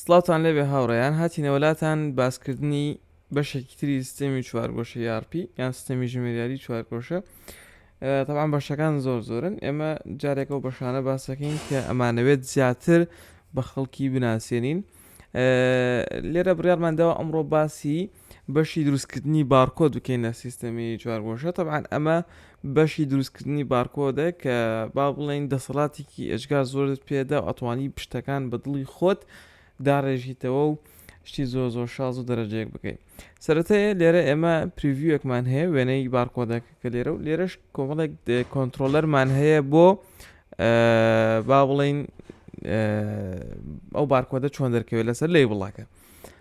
سڵاوتان لێبێ هاوڕێیان هاتینەوە لاتان باسکردنی بەشێکی تری سیستەمی چوارگۆشە یارپی یان سیستەمی ژمێریاری چوارگۆشە تەوان بەشەکان زۆر زۆرن ئێمە جارێکە و بەشانە باسەکەین کە ئەمانەوێت زیاتر بە خەڵکی بناسیێنین لێرە بڕارماندەوە ئەمڕۆ باسی بەشی دروستکردنی بارکۆد بکەین لە سیستەمی چوارگۆشە تەبعەن ئەمە بەشی دروستکردنی بارکۆدە کە با بڵێن دەسەڵاتێکی ئێجگار زۆرت پێدا و ئەتوانی پشتەکان بە دڵی خۆت داڕێژیتەوە و شتی زۆر زۆر شاز و دەرەجەیەک بکەیت سەرەتەیە لێرە ئێمە پریڤیوەکمان هەیە وێنەی بارکۆدەکە کە لێرە و لێرەش کۆمەڵێک کۆنتترۆلەرمان هەیە بۆ با بڵین ئەو بارکۆدە چۆن دەرکەوێت لەسەر لی بڵاکە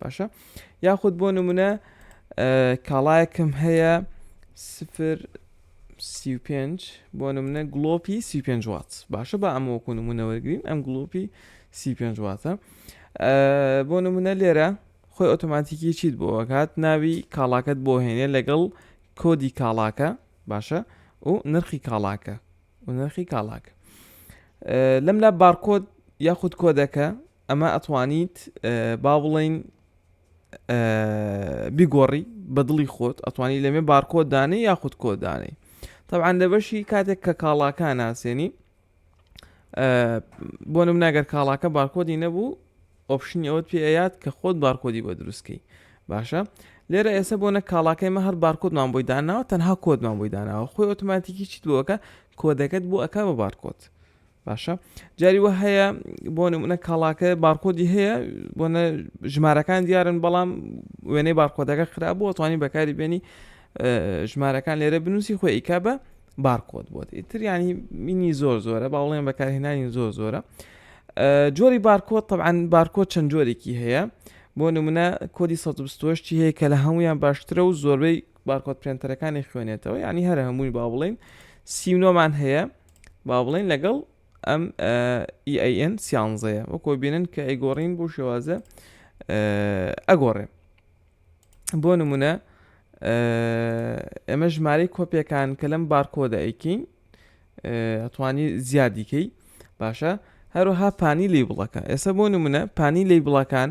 باشە یاخود بۆ نمونە کاڵایەکم هەیە سفر سی پێنج بۆ نمونە گلۆپی سی پێنج وات باشە بە ئەمە وەکو نمونە وەرگین ئەم گلۆپی سی پێنج واتە بۆ نمونە لێرە خۆی ئۆتۆماتیکی چیت بۆ ئەکات ناوی کاڵاکەت بۆ هێنێ لەگەڵ کۆدی کاڵاکە باشە و نرخی کاڵاکە و نرخی کاڵاکە لەم لا بارکۆد یاخود کۆدەکە ئەمە ئەتوانیت با بڵێین بیگۆڕی بە دڵی خۆت ئەتوانی لەمێ بارکۆ دانێ یاخود کۆدانەی طبعاان لە بەشی کاتێک کە کاڵاکان ناسێنی بۆ نم ناگەر کاڵاکە بارکۆدی نەبوو ئۆپشنی ئەوەت پێیات کە خۆت بارکۆدی بە دروستکەی باشە لێرە ئێسە بۆ نە کاڵاکەی مە هەر بارکۆدمان بۆی داناوە تەنها کۆدمان بۆی داناوە خۆی ئۆتوماتیکی چیت بۆەکە کۆدەکەت بۆ ئەک بە بارکۆت باشە جاری وە هەیە بۆ نمونە کاڵاکە بارکۆدی هەیە بۆنە ژمارەکان دیارن بەڵام وێنەی بارکۆدەکە خراپبووە توانی بەکاری بێنی ژمارەکان لێرە بنووسی خۆی ئیکا بە بارکۆت بۆت ئیتر ینی مینی زۆر زۆرە باڵێن بەکارهێنانی زۆر زۆرە جۆری بارکۆت طبعاان بارکۆت چەند جۆرێکی هەیە بۆ نمونە کۆدی 1970 هەیە کە لە هەمویان باشترە و زۆربەی بارکۆت پرێنتەرەکانی خوێنێتەوە ینی هەر هەمووی با بڵین سیونۆمان هەیە با بڵێن لەگەڵ ئەم EAN سیانزەیە وەکۆ بینن کە ئەیگۆڕین بۆ شێوازە ئەگۆڕێ بۆ نمونە ئێمە ژمارەی کۆپیەکان کە لەم بارکۆدە ئەیکەین ئەتوانی زیادیکەی باشە هەروها پانی لی بڵەکە ئێستا بۆ نمونە پانی لی بڵەکان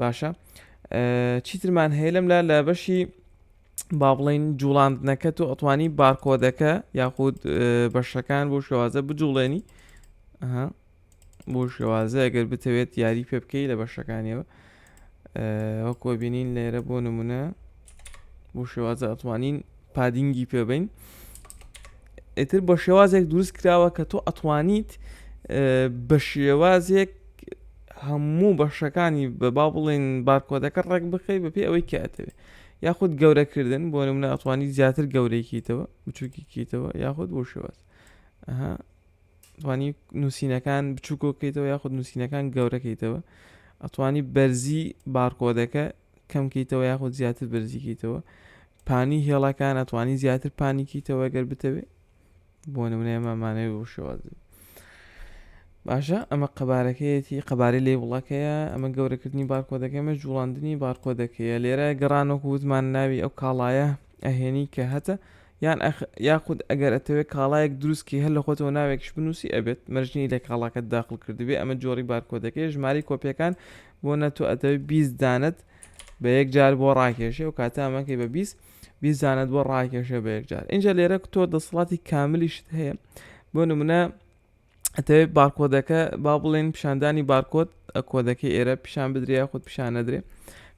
باشە چیترمان هەیە لەم لا لە بەشی با بڵین جوڵاندنەکە تۆ ئەتوانی بارکۆدەکە یاخود بەشەکان بۆ شێوازە بجوڵێنی بۆ شێوازە ئەگەر بتەوێت یاری پێ بکەی لە بەشەکانیەوە وەکۆ بینین لێرە بۆ نمونە بۆ شێوازە ئەتوانین پادینگی پێ بین ئیتر بە شێوازێک دروست کراوە کە تۆ ئەتوانیت بە شێوازێک هەموو بەشەکانی بە با بڵین بارکۆدەکە ڕێک بخەی بە پێ ئەوەی کاتەوێ یاخود گەورەکردن بۆ نمونە ئەتوانی زیاتر گەورەیکیتەوە بچووکیکیتەوە یاخود بۆ شێواز توانی نووسینەکان بچووکۆکەیتەوە یاخود نووسینەکان گەورەکەیتەوە ئەتوانی بەرزی بارکۆدەکە کەم کەیتەوە یاخود زیاتر بەرزی کەیتەوە پانی هێڵەکان ئەتوانی زیاتر پانی کەیتەوە گەر بتەوێ بۆ نمونەیە مامانەوە بۆ شێوازی باشە ئەمە قەبارەکەیەتی قەبارەی لێ وڵەکەیە ئەمە گەورەکردنی بارکۆدەکەمە جوڵاندنی بارکۆدەکەیە لێرە گەڕانۆک وتمان ناوی ئەو کاڵایە ئەهێنی کە هەتە یان یاخود ئەگەر ئەتەوێت کاڵایەک دروستکی هەر لە خۆتەوە ناوێکش بنووسی ئەبێت مەرجنی لە کاڵاکەت داخل کردبێ ئەمە جۆری بارکۆدەکەی ژماری کۆپیەکان بۆ نە تۆ ئەتەوێت بیست دانت بە یەک جار بۆ ڕاکێشێ و کاتە ئەمەکەی بە بیست بیست دانت بۆ ڕاکێشێ بە یەک جار اینجا لێرە تۆ دەسڵاتی کاملیشت هەیە بۆ نمونە ئەتەوێت بارکۆدەکە با بڵێن پیشاندانی بارکۆت کۆدەکەی ئێرە پیشان بدرێ یاخود پیشان نەدرێ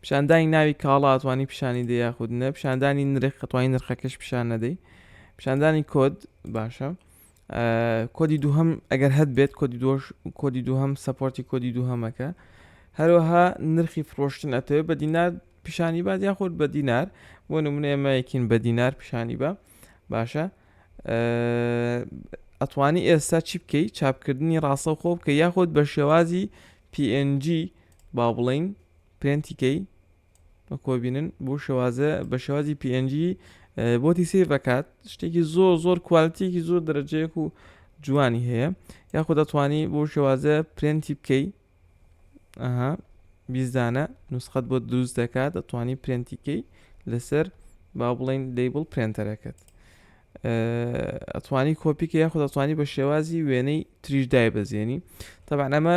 پیشاندانی ناوی کاڵاتوانی پیشانی دە یاخود نە پیشاندانی نرخ کەتوانی نرخەکەش پیشان نەدەی پیشاندانی کۆد باشە کۆدی دووهەم ئەگەر هەت بێت کۆدی دۆش کۆدی دووهەم سەپۆرتی کۆدی دووهەمەکە هەروەها نرخی فرۆشتن ئەتەوێت بە دینار پیشانی بات یاخود بە دینار بۆ نمونە ئێمە یەکین بە دینار پیشانی بە باشە ئەتوانی ئێستا چی بکەی چاپکردنی ڕاستە خۆ بکە یاخود بە شێوازی PNG با بڵین پرێنتیکەی کۆبینن بۆ شێوازە بە شێوازی PNG بۆتی سیر دەکات شتێکی زۆر زۆر کوالتیکی زۆر دەرەجەیەک و جوانی هەیە یاخود دەتوانی بۆ شێوازە پرێنتی بکەی ئەها بیزدانە نوسخەت بۆ دروست دەکات دەتوانی پرێنتیکەی لەسەر با بڵین دەیبڵ پرێنتەرەکەت ئەتوانی کۆپیکە یاخود دەتوانی بە شێوازی وێنەی تریش دای بەزێنی تەبان ئەمە